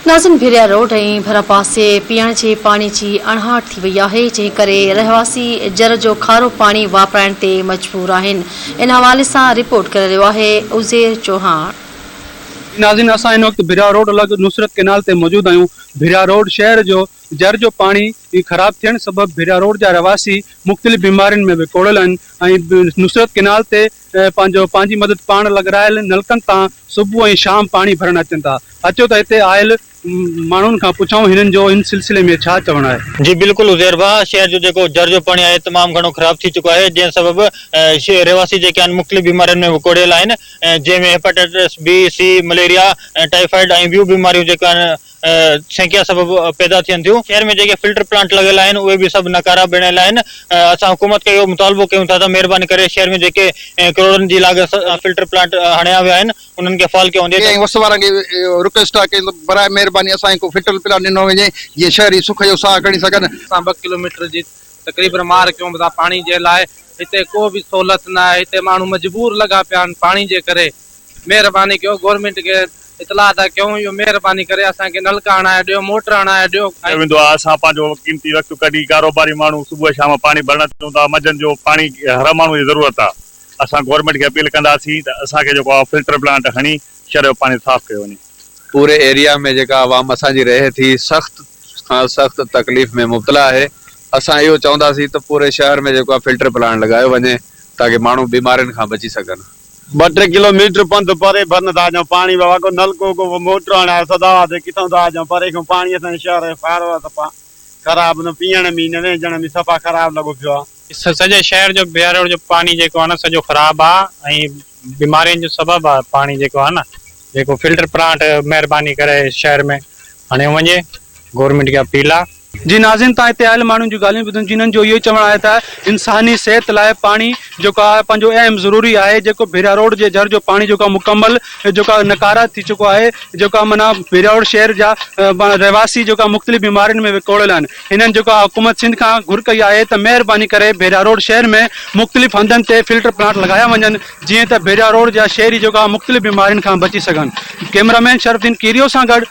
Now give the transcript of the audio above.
ناظرين ڀيريا روڊ ۽ ڀرپاسي پيئڻ جي پاڻي جي اڻهاٺ ٿي وئي آهي جنهن ڪري رهواسي جر جو کارو پاڻي واپرائڻ تي مجبور آهن ان حوالي سان رپورٽ ڪري رهيو آهي عزير چوهاڻ. جي ناظرين اسان هن وقت ڀيريا روڊ لڳ نصرت ڪينال تي موجود آهيون ڀيريا روڊ شهر جو جر جو پاڻي خراب ٿيڻ سبب ڀيريا روڊ جا رهواسي مختلف بيمارين ۾ وڪوڙيل آهن ۽ نصرت ڪينال تي پنهنجو پنهنجي مدد پاڻ لڳرايل نلڪن تان صبح ۽ شام پاڻي ڀرڻ اچن ٿا. اچو ته هتي آيل ماڻهن کان پڇون هنن جو ان سلسلي ۾ ڇا چوڻ آهي. جي بلڪل عزير ڀاء، شهر جو جيڪو جر جو پاڻي آهي تمام گهڻو خراب ٿي چڪو آهي جنهن سبب رهواسي جيڪي آهن مختلف بيمارين ۾ وڪوڙيل آهن جنهن ۾ hepatitis B, C, malaria, typhoid ۽ ٻيون بيماريون جيڪو آهن سينڪيا سبب پيدا ٿين ٿيون، شهر ۾ جيڪي فلٽر پلانٽ لڳل آهن اهي به سڀ ناڪارا بڻيل آهن، اسان حڪومت کي اهو مطالبو ڪيون ٿا ته مهرباني ڪري شهر ۾ جيڪي ڪروڙن جي لاڳت سان فلٽر پلانٽ هڻيا ويا آهن انهن کي فعال ڪيو وڃي. ڪي ۽ وس وارن کي رڪويسٽ آهي ته براء مهرباني اسان کي ڪو فلٽر پلانٽ ڏنو وڃي جيئن شهري سک جو ساهه کڻي سگهن. اسان ٻه ڪلوميٽر جي تقريبن مار ڪيون ٿا پاڻي جي لاء، هتي ڪو به سهولت نه آهي، هتي ماڻهو مجبور لڳا پيا آهن پاڻي جي ڪري، مهرباني ڪيو گورنمينٽ کي اطلاع ٿا ڪيون اهو مهرباني ڪري اسان کي نلڪا هڻائي ڏيو موٽر هڻائي ڏيو ۽. ويندو آهي اسان پنهنجو قيمتي وقت ڪڍي ڪاروباري ماڻهو صبح شام پاڻي ڀرڻ اچون ٿا منجهند جو پاڻي هر ماڻهو جي ضرورت آهي اسان گورنمينٽ کي اپيل ڪنداسين ته اسان کي جيڪو آهي فلٽر پلانٽ هڻي شھر جو پاڻي صاف ڪيو وڃي. پوري ايريا ۾ جيڪا عوام اسان جي رهي ٿي سخت کان سخت تڪليف ۾ مبتلا آهي اسان اهو چونداسين ته پوري شهر ۾ جيڪو آهي فلٽر پلانٽ لڳايو وڃي تاڪه ماڻهو بيمارين کان بچي سگهن. ٻه ٽي ڪلو ميٽر پنڌ پري ڀرن تان جو پاڻي وهي ڪو نلڪو ڪو موٽر هڻائي سدا هئا ته ڪٿئون تان جو پري کان پاڻي اسان جي شهر جو کارو آهي سفا خراب نه پيئڻ ۾ نه وهنجڻ ۾ سفا خراب لڳو پيو آهي. سڄي شهر جو بهراڙو جو پاڻي جيڪو آهي نه سڄو خراب آهي ۽ بيمارين جو سبب آهي پاڻي جيڪو آهي نه جيڪو فلٽر پلانٽ مهرباني ڪري شهر ۾ هڻيو وڃي گورنمينٽ کي اپيل آهي. جي ناظرين تان هتي آيل ماڻهن جون ڳالهيون ٻڌن جنهن جو اهو ئي چوڻ آهي ته انساني صحت لاء پاڻي جيڪو آهي پنهنجو اهم ضروري آهي جيڪو ڀيرا روڊ جي جر جو پاڻي جيڪو مڪمل جيڪو نڪاره ٿي چڪو آهي جيڪو معنيٰ ڀيرا روڊ شهر جا رهواسي جيڪو مختلف بيمارين ۾ وڪوڙيل آهن هنن جيڪو آهي حڪومت سنڌ کان گهر ڪئي آهي ته مهرباني ڪري ڀيرا روڊ شهر ۾ مختلف هنڌن تي فلٽر پلانٽ لڳايا وڃن جيئن ته ڀيرا روڊ جا شهري جيڪو آهي مختلف بيمارين کان بچي سگهن ڪئميرا مين شرف الدين ڪيريو سان گڏ